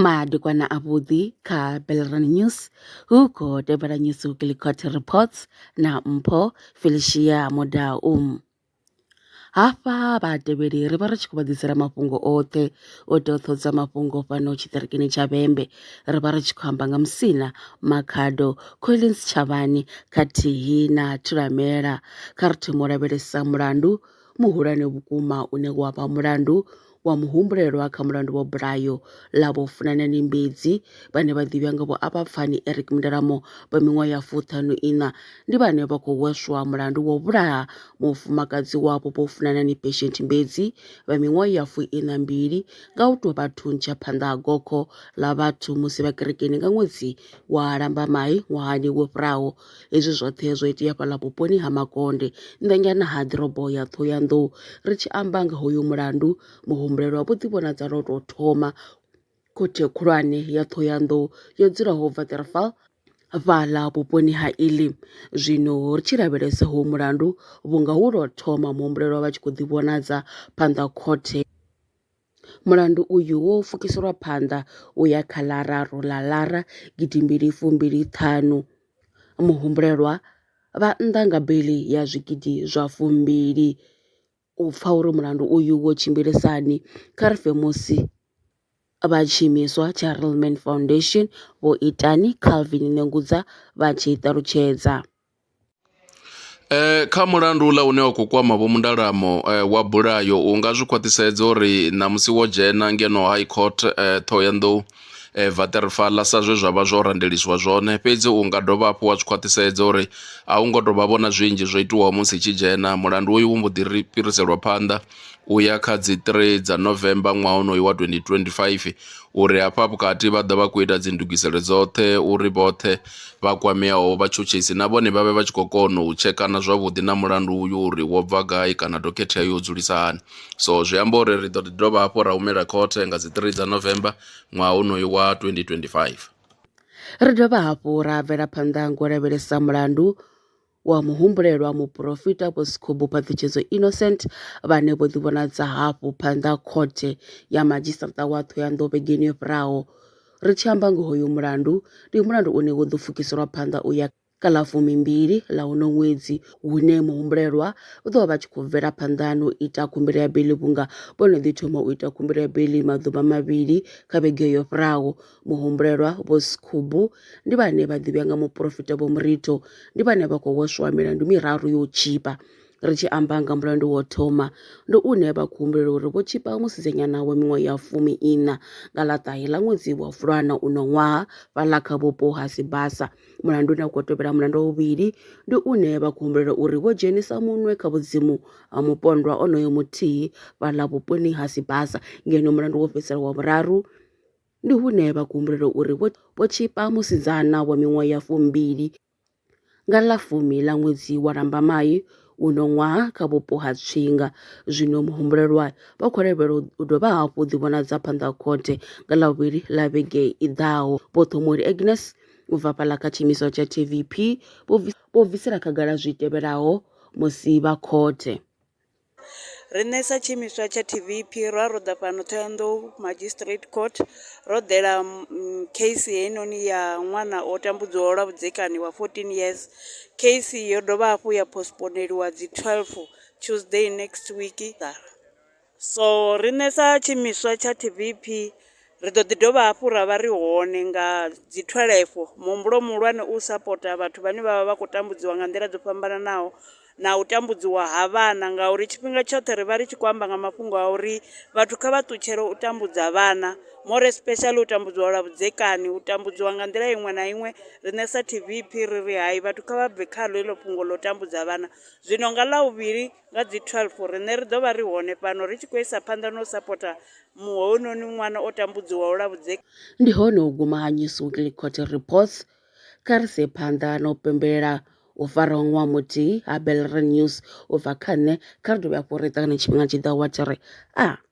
Madekwana a vhuḓi kha Belrani News hu khou tevhela News Gillicott Reports na Mpho Felicia Mudau. Hafha vhatevheli ri vha ri tshi khou vha ḓisela mafhungo oṱhe u itela u ṱohadza mafhungo fhano tshiṱirikini tsha vhembe ri vha ri tshi khou amba nga musina makhado collins tshavhani khathihi na thulamela kha ri thoma u lavhelesa mulandu muhulwane vhukuma une wa vha mulandu wa muhumbulelwa kha mulandu wa bulayo ḽa vho funana ni mbedzi vhane vha ḓivhiwa nga vho a vha pfani eric mundalamo vha miṅwaha ya fuṱhanu iṋa ndi vhane vha khou weswa mulandu wa u vhulaha mufumakadzi wavho vho funana ni patient mbedzi vha miṅwaha ya fuiṋa mbili nga u tou vha thuntsha phanḓa ha gokho ḽa vhathu musi vha kerekeni nga ṅwedzi wa Lambamai ṅwahani wo fhiraho. Hezwi zwoṱhe zwo itea fhaḽa vhuponi ha Makonde nnḓanyana ha ḓorobo ya Ṱhohoyanḓou. Ri tshi amba nga hoyu mulandu, muhumbulelwa vho ḓivhonadza lwo tou thoma Khothe khulwane ya Ṱhohoyanḓou yo dzulaho Waterval fhaḽa vhuponi ha Elim zwino ri tshi lavhelesa ho mulandu vhunga hu lwa thoma muhumbulelwa vha tshi khou ḓivhonadza phanḓa khothe mulandu uyu wo fukiselwa phanḓa u ya kha ḽa raru ḽa lara gidimbili fumbili ṱhanu muhumbulelwa vha nnḓa nga beli ya zwigidi zwa fumbili u pfha uri mulandu uyu wo tshimbilisa hani, kha ri pfe musi vha tshiimiswa tsha Real Man Foundation Vho Itani Calvin Nengudza vha tshi ṱalutshedza. Eh, kha mulandu uḽa une wa khou kwama vho mundalamo eh, wa bulayo u nga zwi khwaṱhisedza uri ṋamusi wo dzhena ngeno high court eh, ṱhohoyanḓou Vaṱerefala sa zwe zwa vha zwo randeliswa zwone fhedzi u nga dovha hafhu wa zwi khwaṱhisedza uri a hu ngo tou vha vhona zwinzhi zwo itiwaho musi i tshi dzhena. Mulandu uyu u mbo ḓi ri fhiriselwa phanḓa u ya kha dzi 3 dza November ṅwaha honoyu wa 2025 uri hafha vhukati vha ḓo vha khou ita dzi ndugiselo dzoṱhe uri vhoṱhe vha kwameaho vhatshutshisi na vhone vha vhe vha tshi khou kona u tshekana zwavhuḓi na mulandu uyu uri wo bva gai kana dokhethe ya yo dzulisa hani. so zwi amba uri ri ḓo ḓi dovha hafhu ra humela khothe nga dzi 3 dza November ṅwaha unoyu wa 2025. Ri dovha hafhu ra bvela phanḓa ngo lavhelesa mulandu wa muhumbulelwa muporofita Vho Sikhubu Phaḓitshedzo Innocent vhane vho ḓivhonadza hafhu phanḓa khothe ya madzhisiṱa wa Thohoyandou vhegeni yo fhiraho. Ri tshi amba ngoho hoyu mulandu ndi mulandu une wo ḓo pfukiselwa phanḓa u ya kha ḽa fumimbili ḽa uno ṅwedzi hune muhumbulelwa u ḓo vha vha tshi khou bvela phanḓa na u ita khumbelo ya beiḽi vhunga vho no ḓi thoma u ita khumbelo ya beiḽi maḓuvha mavhili kha vhege yo fhiraho muhumbulelwa vho sikhubu ndi vhane vha ḓivhea nga muporofita vho murito ndi vhane vha khou hweswa milandu miraru yo tshipa ri tshi amba nga mulandu wo thoma ndi une vha khou humbulela uri vho tshipa musidzanyana wa miṅwaha ya fumi ina nga ḽa ṱahe ḽa ṅwedzi wa fulwana uno ṅwaha fhaḽa kha vhupo ha sibasa Mulandu une u khou tevhela mulandu wa vhuvhili ndi une vha khou humbulela uri vho dzhenisa munwe kha vhudzimu ha mupondwa onoyo muthihi fhaḽa vhuponi ha Sibasa ngeno mulandu wo fhedzisela wa vhuraru ndi hune vha khou humbulela uri vho tshipa musidzana wa miṅwaha ya fumbili nga ḽa fumi ḽa ṅwedzi wa Lambamai uno ṅwaha kha vhupo ha Tswinga zwino muhumbulelwa vha khou lavhelela u dovha hafhu ḓivhonadza phanḓa ha khothe nga ḽa vhuvhili ḽa vhege i ḓaho vho Ṱhomori Agnes U bva fhaḽa kha tshiimiswa tsha TVP, vho bvisela khagala zwi tevhelaho musi vha khothe. Riṋe sa tshiimiswa tsha TVP ro a ro ḓa fhano Thohoyandou Magistrate Court ro ḓela case heinoni ya ṅwana o tambudzwaho lwa vhudzekani wa 14 years. Case yo dovha hafhu ya postponeliwa dzi 12 Tuesday next week. So riṋe sa tshiimiswa tsha TVEP ri ḓo ḓi dovha hafhu ra vha ri hone nga dzi 12. Muhumbulo muhulwane u u sapota vhathu vhane vha vha vha khou tambudziwa nga nḓila dzo fhambananaho na u tambudziwa ha vhana ngauri tshifhinga tshoṱhe ri vha ri tshi khou amba nga mafhungo a uri vhathu kha vha ṱutshele u tambudza vhana, more especially u tambudziwa lwa vhudzekani, u tambudziwa nga nḓila iṅwe na iṅwe. Riṋe sa TVEP ri ri hai, vhathu kha vha bve khaḽo heḽo fhungo ḽa u tambudza vhana. Zwino nga Ḽavhuvhili Nga dzi 12, riṋe ri ḓo vha ri hone fhano ri tshi khou isa phanḓa na u sapota muṅwe hounoni ṅwana o tambudziwaho lwa vhudzekani. Ndi hone u guma ha Newsweekly Court Reports. Kha ri se phanḓa na u pembelela u fara ha ṅwaha muthihi ha Bellerin News u bva kha nṋe, kha ri dovhe hafhu ri ṱangane tshifhingani tshi ḓaho wa tshi ri, A.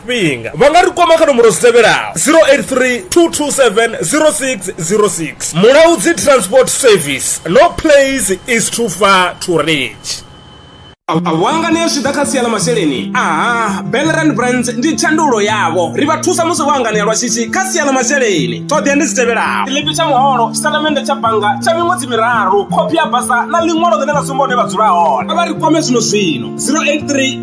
tshifhinga vha nga ri kwama kha nomboro dzi tevhelaho 083 227 0606 mulaudzi transport service no place is too far to reach awanga ni a zwi ḓa kha sia ḽa masheleni aha belran brands ndi tshandulo yavho ri vha thusa musi vho anganea lwa shishi kha sia ḽa masheleni ṱhoḓea ndi dzi tevhelaho tshiḽipi tsha muholo tshitatamennde tsha bannga tsha miṅwedzi miraru khophi ya basa na ḽiṅwalo ḽine ḽa sumba hune vha dzula hone a vha ri kwame zwino zwino 083